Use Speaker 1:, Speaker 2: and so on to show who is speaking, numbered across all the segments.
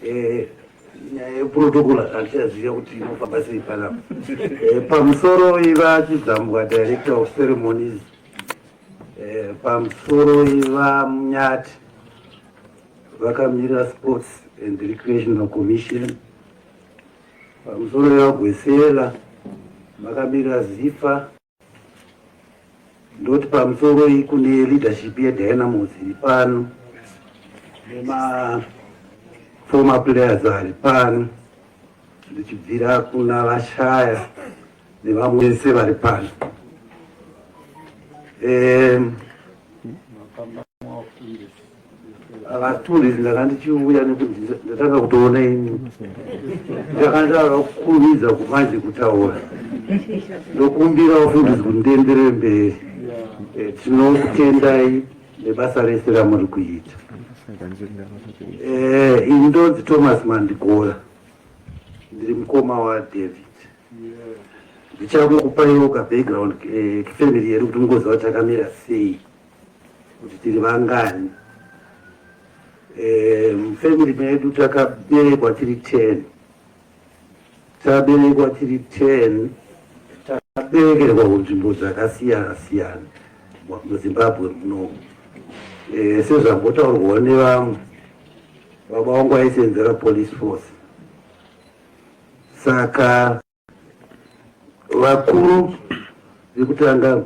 Speaker 1: Eh, nyaya yeprotocol handichaziva kuti inofamba sei panapa eh, pamusoro iva chidzambwa director of ceremonies eh, pamusoro iva munyati vakamirira sports and recreational commission pamusoro iva gwesela vakamirira zifa ndoti pamusoro iyi kune leadership yedynamos iri pano nemaformer players ari pano ndichibvira kuna vashaya nevamwe vese vari pano um, Vatori ndanga ndichiuya nekuti ndatanga kutoona ini ndakandava kukurumidza kumanje kutaura ndokumbira ufundisi kuti ndienderere mberi eh, tinokutendai nebasa rese ramuri kuita eh, ini ndonzi thomas mandikora ndiri mukoma wadavid ndichakukupayoka background eh, kifamily yedu kuti mugoziva takamira sei kuti tiri vangani eh, mufamily medu takaberekwa tiri ten taberekwa tiri ten takaberekerwa kunzvimbo dzakasiyana siyana muzimbabwe munomu eh, sezvambotaurwawo nevamwe baba wangu aisenzera police force saka Vakuru vekutanga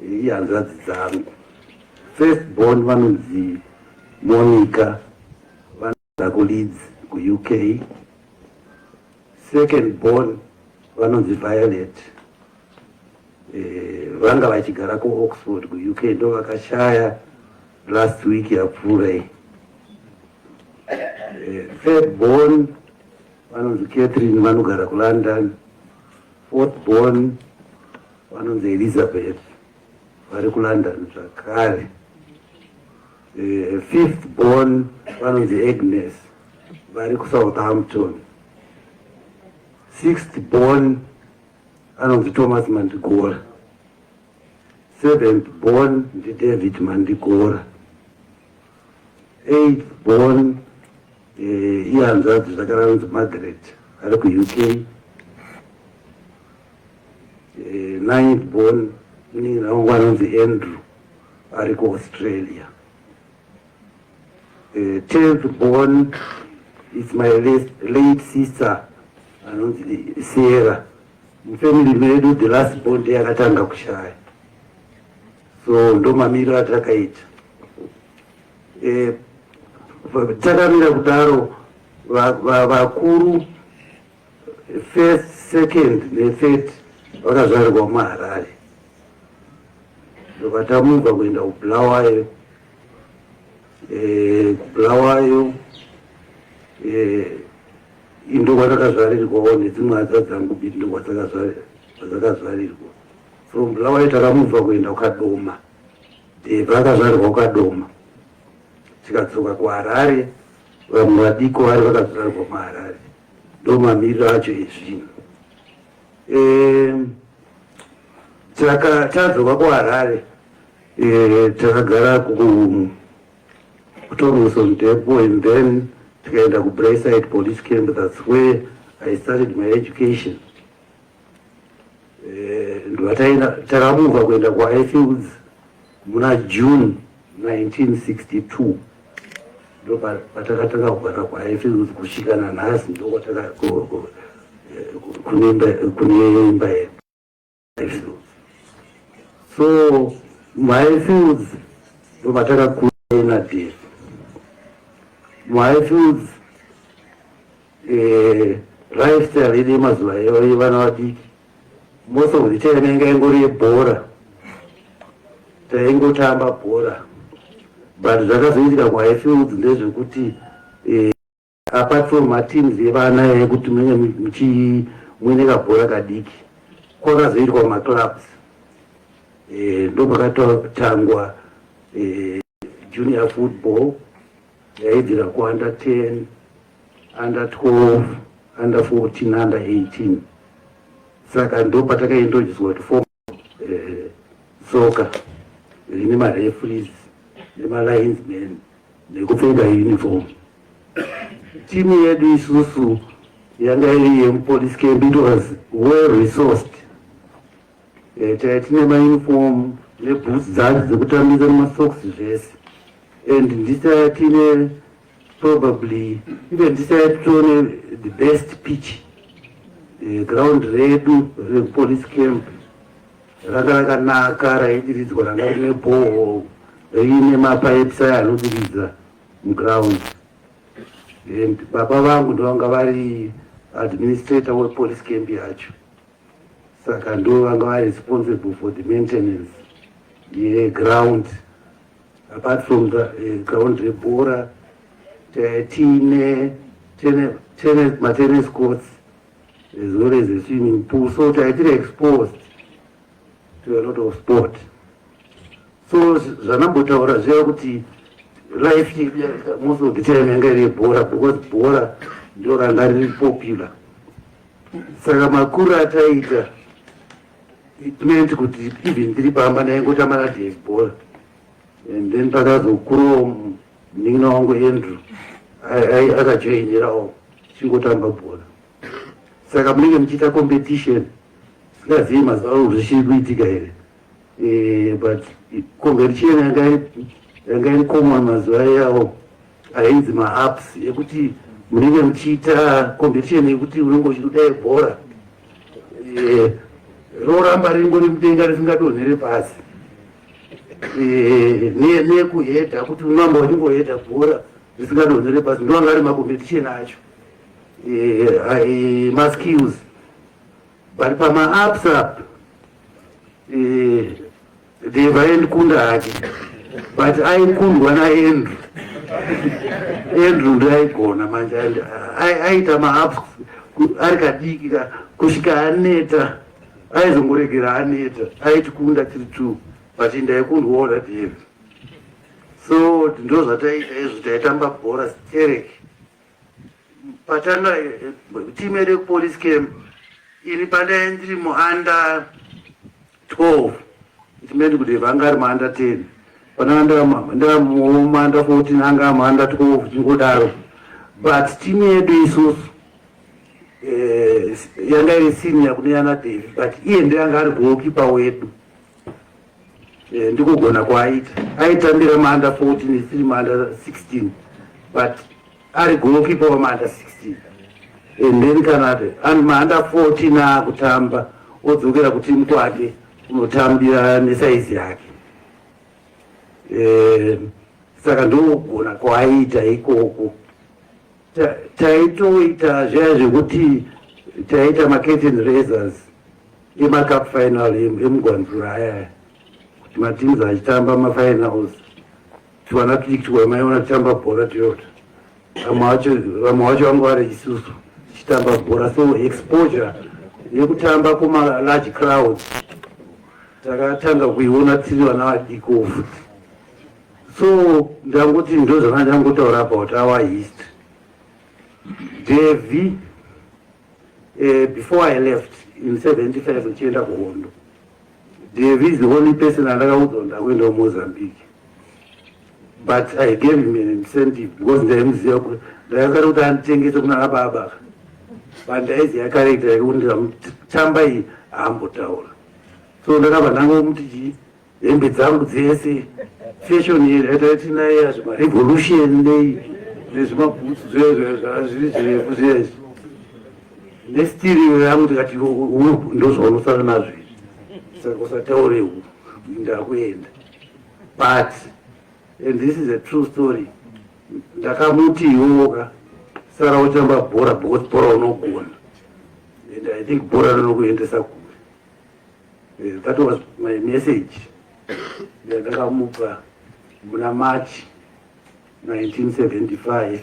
Speaker 1: ihanzvadzi dzangu first born vanonzi Monica vanogara kuLeeds kuUK. Second born vanonzi Violet eh, vanga vachigara kuOxford kuUK ndo vakashaya last week yapfuura iyi. Eh, third born vanonzi Catherine vanogara kuLondon, Fortborn vanonzi Elizabeth vari kuLondon zvakare. E, fifth born vanonzi Agnes vari kuSouthampton. Sixth born anonzi Thomas Mandigora. Seventh born ndiDavid Mandigora. eight born eh, ihanzvadzi zvakaranzi margaret ari kuuk eh, ninth born niraungu anonzi andrew ari kuaustralia eh, tenth born is my late sister anonzi sierra mufamily medu the last born ndeyakatanga kushaya so ndomamiriro atakaita e, takamira kudaro vakuru va, va first second nethird vakazvarirwa muharare ndokatamuka kuenda kubulawayo eh, kubulawayo eh, indokwandakazvarirwawo nedzimwe hadza dzangu bidi ndokwadzakazvarirwa from Bulawayo takamubva kuenda kuKadoma Dhebha akazvarirwa kuKadoma tikadzoka kuHarare vamwe vadiko vari vakazvarirwa muHarare ndomamiriro acho ezvinhu tadzoka kuharare eh, takagara kutormuson depo and then tikaenda kubrayside police camp thats where i started my education eh, ndivataina takamuva kuenda kuifields muna june 1962 ndo patakatanga kugara kuifields kusvika nanhasi ndokwataka kune imba yedu so muhighfields ndo matakakura inadhiri muhighfields Eh, lifestyle yedu yemazuva eyo yevana vadiki most of the time yanga ingori yebhora taingotamba bhora but zvakazoitika kuhighfields ndezvekuti eh, apart from mateams evana yekuti munenge muchi muine kabhora kadiki kwakazoitwa maclubs eh, ndokwakatotangwa eh, junior football yaibvira kuunder 10 under 12 under 14 under 18 saka ndo patakaindojiswa kuti fom eh, soka rine marefries nemalinesman nekupfeka uniform timu yedu isusu yanga iri yemupolice camp it was well resourced Eh, taive tine mauniform neboots dzacho dzekutambisa nemasocks zvese and ndisaya tine probably even ndisaya titone the best pitch eh, ground redu repolice camp ranga rakanaka raidiridzwa ranga rine boho riine mapipes aya anodiridza muground and baba vangu ndovanga vari administrator wepolice camp yacho saka ndo vanga vari responsible for the maintenance yeground apart from the eh, ground rebhora tiine matennis courts as well as a swimming pool so taitiri exposed to a lot of sport so zvanambotaura zviya kuti life most of the time yanga iri yebhora because bhora ndo ranga riri popular saka makuru ataita it meant kuti even ndiri pamba ndaingotamba nadave bhora and then pakazokurowo munin'ina wangu andrew akajoinirawo chingotamba bhora saka munenge muchiita competition singazivi mazuva ano zvichiri kuitika here eh, but convention yanga yanga iri common mazuva iyawo ainzi maaps ekuti munenge muchiita competition yekuti unenge uchiudaye bhora eh, roramba ringori mudenga risingadonhere pasi eh, nekuhedha kuti unamba uchingohedha bhora risingadonhere pasi ndoanga ari macompetition acho eh, maskills But pama apps up eh, Deva endikunda hake but aikundwa naAndrew Andrew ndiye aigona manje aita maapps ari kadiki ka kusvika aneta aizongoregera aneta aitikunda tiri two but ndaikundwawo naDave so ndozvataiita izvo taitamba bhora stereki patanga team yedu police camp ini pandai ndiri muunder 12 itimendi kuti vanga ari muunder 10 pananga ndaamuunder 14 anga amuunder 12 chingodaro but team yedu isusu eh, yanga iri senior kune yana davi but iye ndeanga ari goalkeeper wedu Eh, ndikugona kwaaita aitambira maanda 14 isiri maanda 16 but ari golokipa wamaanda 16 and then kanade and maanda 14 aakutamba odzokera kutimu kwake unotambira nesaizi yake eh, saka ndokugona kwaaita ikoko taitoita zviya zvekuti taiita macurtain raisers emacup final emugwanzura ayaya kuti mateams achitamba mafinals tiwana tichitiwa maiona tichitamba bhora toyota vamwe vacho vamwe vacho vanga vari isusu tichitamba bhora so exposure yekutamba kumalarge crowd takatanga kuiona tiri vana vadikofu so ndangoti ndozvanga ndangotaura about our history devi uh, before i left in 75 ndichienda kuhondo devi is the only person andakaudzwa ndakuenda kumozambique but i gave him an incentive because ndaimuziva kuti ndakasara kuti anditengese kunana baba bandaiziva karekta yake kuti ndikamutambai aambotaura so ndakabva ndangomuti chii hembe dzangu dzese fashion yezvatati naye yazvo marevolution nei nezvimabhutsu zvazviri zvirefu zvezvi nestiriro yangu tikati ndozvaunosara nazvo izvi saka usataure hu ndakuenda but and this is a true story ndakamuti iwowoka sara uchamba bhora because bhora unogona and i think bhora rinokuendesa kure Eh, that was my message yandakamupa muna march 1975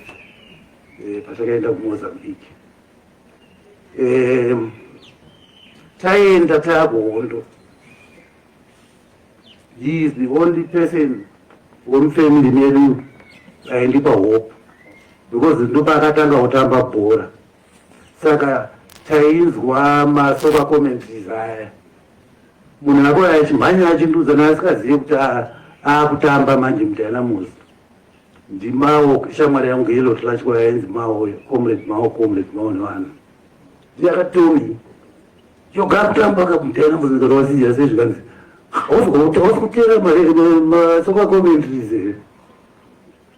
Speaker 1: eh, patakaenda kumozambique um, taenda takuhondo he is the only person wemufamily medu aindipa hope because ndopaakatanga kutamba bhora saka tainzwa masoka comments aya munhu ako achimhanya achinduza naasikazive kuti akutamba manje mutana muzi ndimawo shamwari yangu yelo tlashwa yainzi mawo comrade mawo comrade mawo nevanhu ndiyakatomi yoga kutamba kamutana muzi ndorwasiya sezvikanzi hausi kutera masoka comments here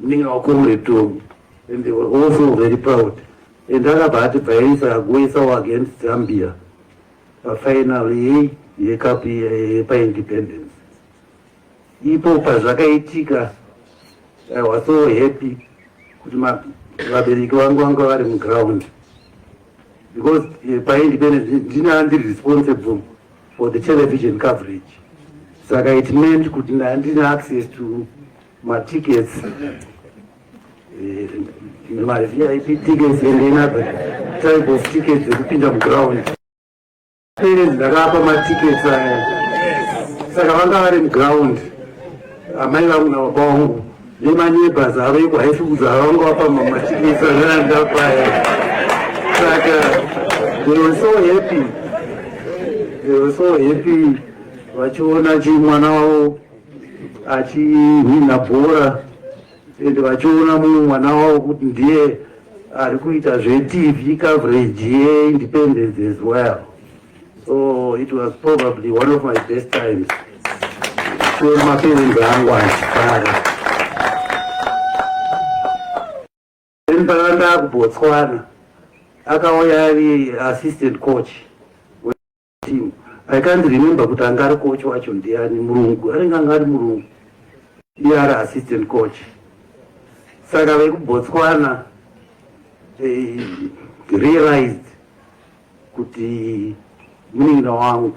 Speaker 1: munin'ina wako uri two and they were also very proud and akabva ati bvaisa agoisawo against zambia pafinal yei yekapu yepaindependence ipo pazvakaitika i was so happy kuti vabereki vangu vanga vari muground because eh, paindependence ndine andiri responsible for the television coverage saka it meant kuti ndandina access to matickets eh, mavip tickets and another type of tickets dzekupinda muground parents ndakapa matickets aya saka vanga vari muground amai vangu nababa wangu nemaneighbors aveko haisi kuti havanga vapamba machipisa nanda paya saka they were so happy they were so happy vachiona chi mwana wavo achihwina bhora and vachiona mumwe mwana wavo kuti ndiye ari kuita zvetv coverage yeindependence as well Oh, it was probably one of my best times. So my parents angu achifara. Then pakanga akuBotswana akauya ari assistant coach team. I can't remember kuti anga ari coach wacho ndiani murungu anenge anga ari murungu iye ari assistant coach saka vekuBotswana they realized kuti munin'ina wangu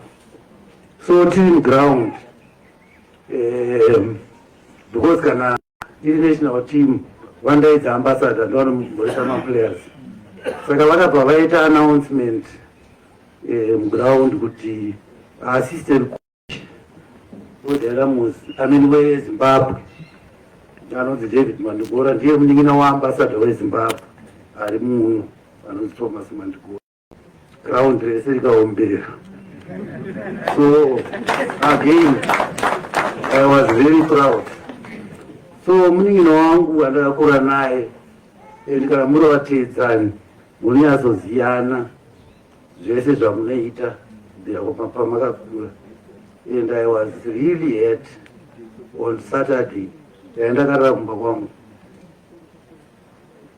Speaker 1: so tiri muground um, because kana iri national team vandaidza ambassador ndovanomhoresa maplayers saka vakabva vaita announcement eh, muground kuti assistant Mudhara muzi amene weZimbabwe anonzi David Mandigora ndiye munin'ina waambasada weZimbabwe ari muno anonzi Thomas Mandigora. Ground rese rikaombera. So again I was very proud. So munin'ina wangu andakakura naye and kana muri vateedzani munonyazoziyana zvese zvamunoita pamakakura and i was really hurt on saturday ndaendakarara kumba kwangu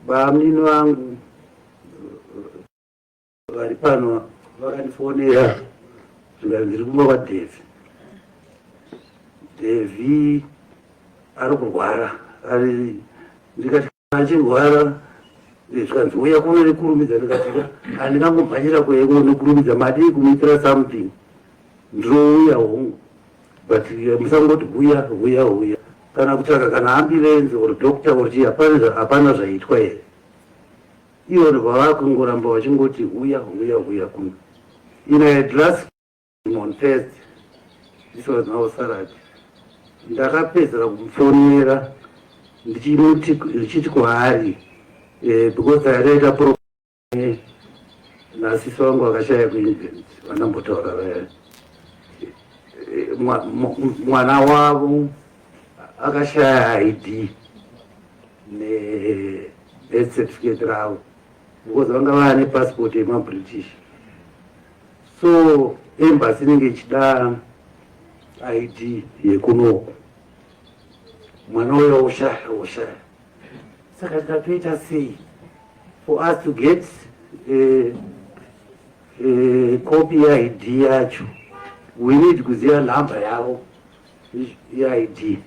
Speaker 1: bamunini vangu vari pano vakandifonera zvikanzi ndiri kumba kwadevi devi ari kurwara ari ndikati achirwara zvikanzi uya kuno nekurumidza ndikatika handingangomhanyira kuya kuno nekurumidza madii kumuitira something ndinouya hongu but eh, musangoti huya huya huya kana kutsvaka kana ambulenzi or doctor or chii hapana zvaitwa here ivo vavakungoramba vachingoti huya huya huya kuno inaedras On Thursday, this was now Saturday, ndakapedzera kumufonera ndichiti kwaari eh, because aitaita problem eh, nasisi vangu vakashaya kuengland vanambotaura vaya eh, mwana wavo akashaya id nebirth certificate ravo because vanga vane passport yemabritish so embassy inenge ichida id yekunoku mwana uya oshaya oshaya saka tikatoita sei for us to get eh, eh, copy yeid yacho we need kuziva nhamba yavo yeid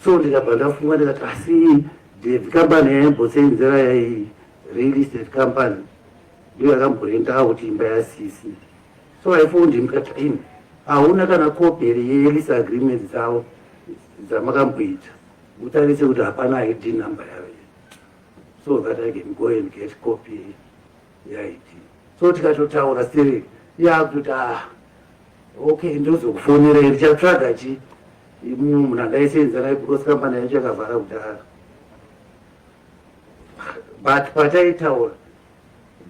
Speaker 1: so ndikabva ndafunga ndikati asi dev company yaimboseenzera yai real estate company ndiyo yakamborentawo kuti imba yasisi so i found him kat in hauna kana koperi yelease agreement dzavo dzamakamboita utarise kuti hapana id number yavo so that i can go and get copy yeid so tikatotaura siri yakutoti ah okay ndozokufonera iri chatsvaga chi munhu andaisenza naye because kambani yacho yakavhara kudhara but pataitaura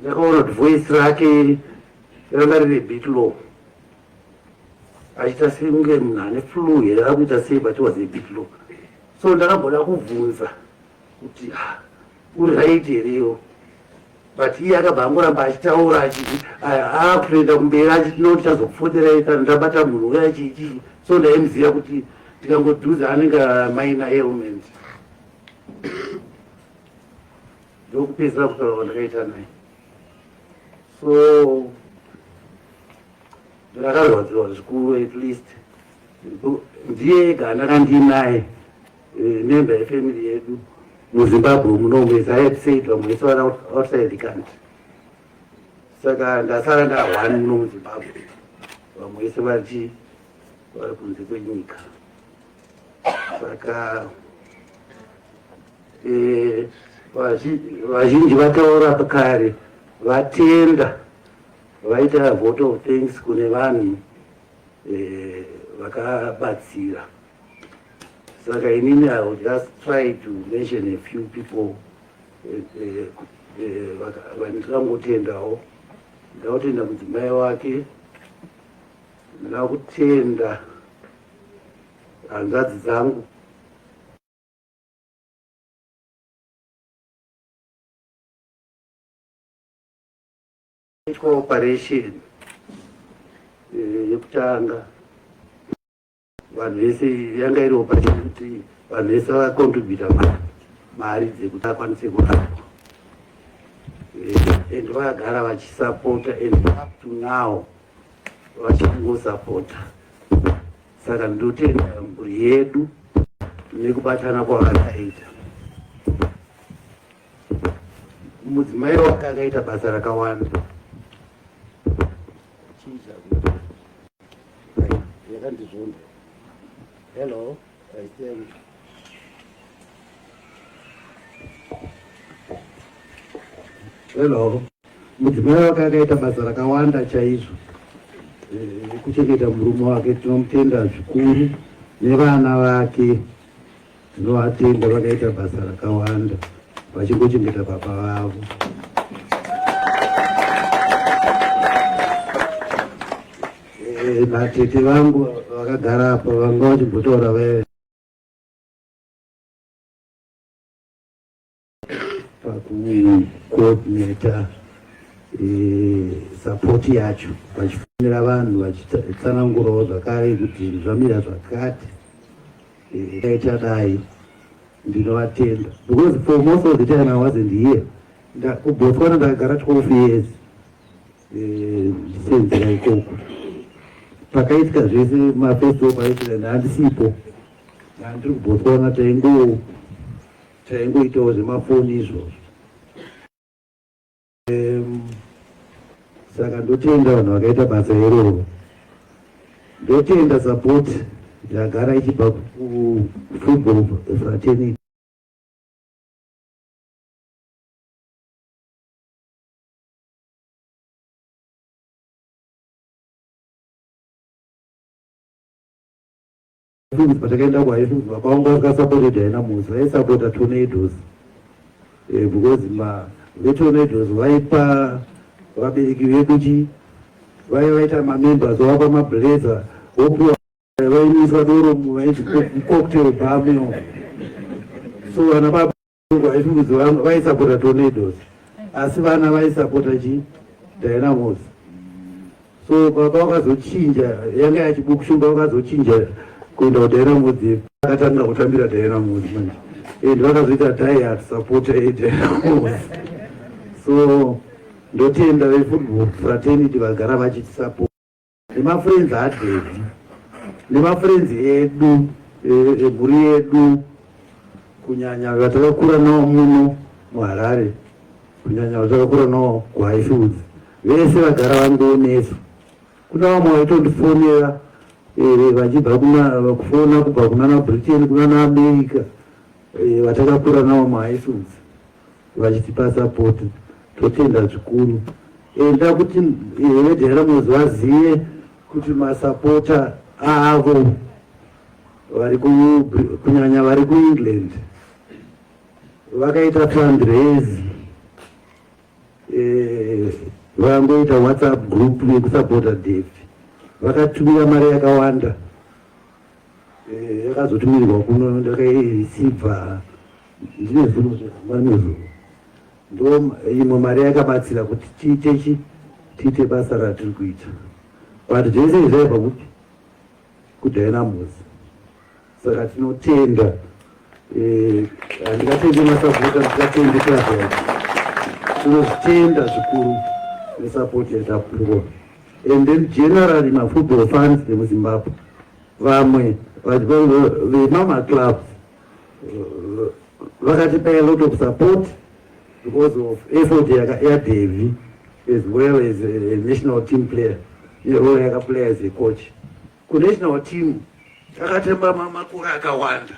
Speaker 1: Ndakaona kuti voice rake ranga riri bit low achiita sekunge munhu ane flu here akuita sei but was a bit low so ndakagona kubvunza kuti ah, uri right here iwo but iye akabva angoramba achitaura achiti akutoenda ah, ah, kumberi achiti no tichazopfoterai kana ndabata munhu uya chichii so ndaimuziva kuti ndikangodhuza anenge maina ailment ndokupedzera kutaura kwandakaita naye so ndakarwadziwa zvikuru at least ndiye ega ndakandinaye eh, member yefamily yedu muzimbabwe munomu as i had said vamwe vese vana outside the country saka ndasara ndahwani muno muzimbabwe vamwe vese vachi vari kunze kwenyika saka Eh, vazhinji vataura kare vatenda vaita vote of thanks kune vanhu eh, vakabatsira saka inini i will just try to mention a few people eh, vandikangotendawo ndakutenda mudzimai wake ndakutenda hanzvadzi dzangu itwa operation eh, yekutanga vanhu vese yanga iri operation kuti vanhu vese vacontributa mari dzekuti akwanise kurapa eh, and vakagara vachisapota and up to now vachingosapota Saka ndotenda mhuri yedu nekubatana kwavakaita. Mudzimai wake akaita basa rakawanda yakandizvonda hello aisemu hello Mudzimai wake akaita basa rakawanda chaizvo eh, kuchengeta murume wake. Tinomutenda zvikuru nevana vake, tinovatenda vakaita basa rakawanda vachingochengeta baba vavo. Eh, vatete vangu vakagara apa vanga vachimbotaura vee pakucoordinata eh, sapoti yacho vachifonera vanhu vachitsanangurawo zvakare kuti zvamira zvakati eh, kaita dai ndinovatenda because for most of the time i wasn't here kubotswana ndakagara 12 years eh, ndisenzera ikoko pakaitika zvese mafestival paitika handisipo handiri kubotswana taingowo Taingoitawo zvemafoni izvozvo. Saka ndotenda vanhu vakaita basa iroro, ndotenda support yagara ichibva kufootball fraternity. Highfields patakaenda kuHighfields baba vangu vakasapotedza haina musi vaisapota tornadoes eh, because ma vetornadoes vaipa vabereki vedu chi vaiva vaita mamembers vavapa mablazer vopiwa vainyisa doro vaiti cocktail bameo so vana baba Vaifudzi vaisapota tornadoes asi vana vaisapota chi dynamos so baba vakazochinja yanga yachibukushumba vakazochinja kuenda kudynamos akatanga kutambira dynamos manje and vakazoita diet sapota yedynamos so ndotenda vefootball fraternity vagara vachitisapota nemafrenzi adhedhi nemafrenzi edu emhuri e, e, yedu kunyanya vatakakura nawo muno muharare kunyanya vatakakura nawo kuhighfields vese vagara vangonesu kuna vamwe vaitondifonera e, vachibva kufona kubva kunana britain kunana america vatakakura nawo muhighfields vachitipa support totenda zvikuru enda kuti veDynamos vazive kuti masapota avo vari kunyanya vari kuengland vakaita fundraise eh, vangoita whatsapp group yekusapota dev vakatumira mari yakawanda eh, yakazotumirwa kuno ndakairisibva Ndine zvinhu zvihamba nezvo ndo imwe mari yakabatsira kuti tiite chi tiite basa ratiri kuita but zvese izvi zvaibva kupi kudynamos saka tinotenda eh, handingatende masapota ndingatende kazai tinozvitenda zvikuru nesapoti yatapuwa and then generally mafootball fans nemuzimbabwe vamwe vemamaclubs vakatipa a lot of support because of effort yadevi as well as a national team player nerole yakaplaya as a coach kunational team takatemba makore akawanda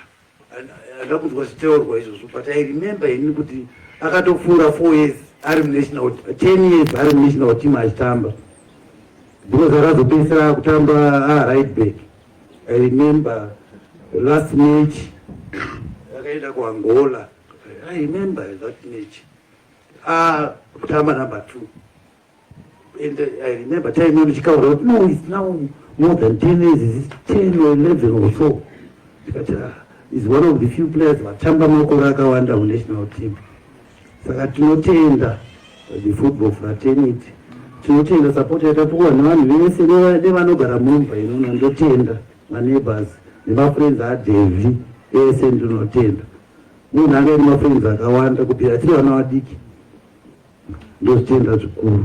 Speaker 1: handa kunzwa zviteurwa izvozvo but i remember ini kuti akatopfuura four years ari munational ten years ari munational team achitamba because akazopedzisira akutamba ah, right back I remember the last match yakaenda kuAngola. I remember that match. Ah, tamba number two. And I remember time when Chikaura, no, it's now more than 10 years, it's 10 or 11 or so. But, uh, is one of the few players vatamba makore akawanda munational team. Saka tinotenda the football fraternity, tinotenda support yatapuwa nevanhu vese nevanogara mumba inono, ndotenda maneighbors nemafriends aDevi ese ndinotenda munhu anga iri mafriends akawanda kubvira tiri vana vadiki ndozvitenda zvikuru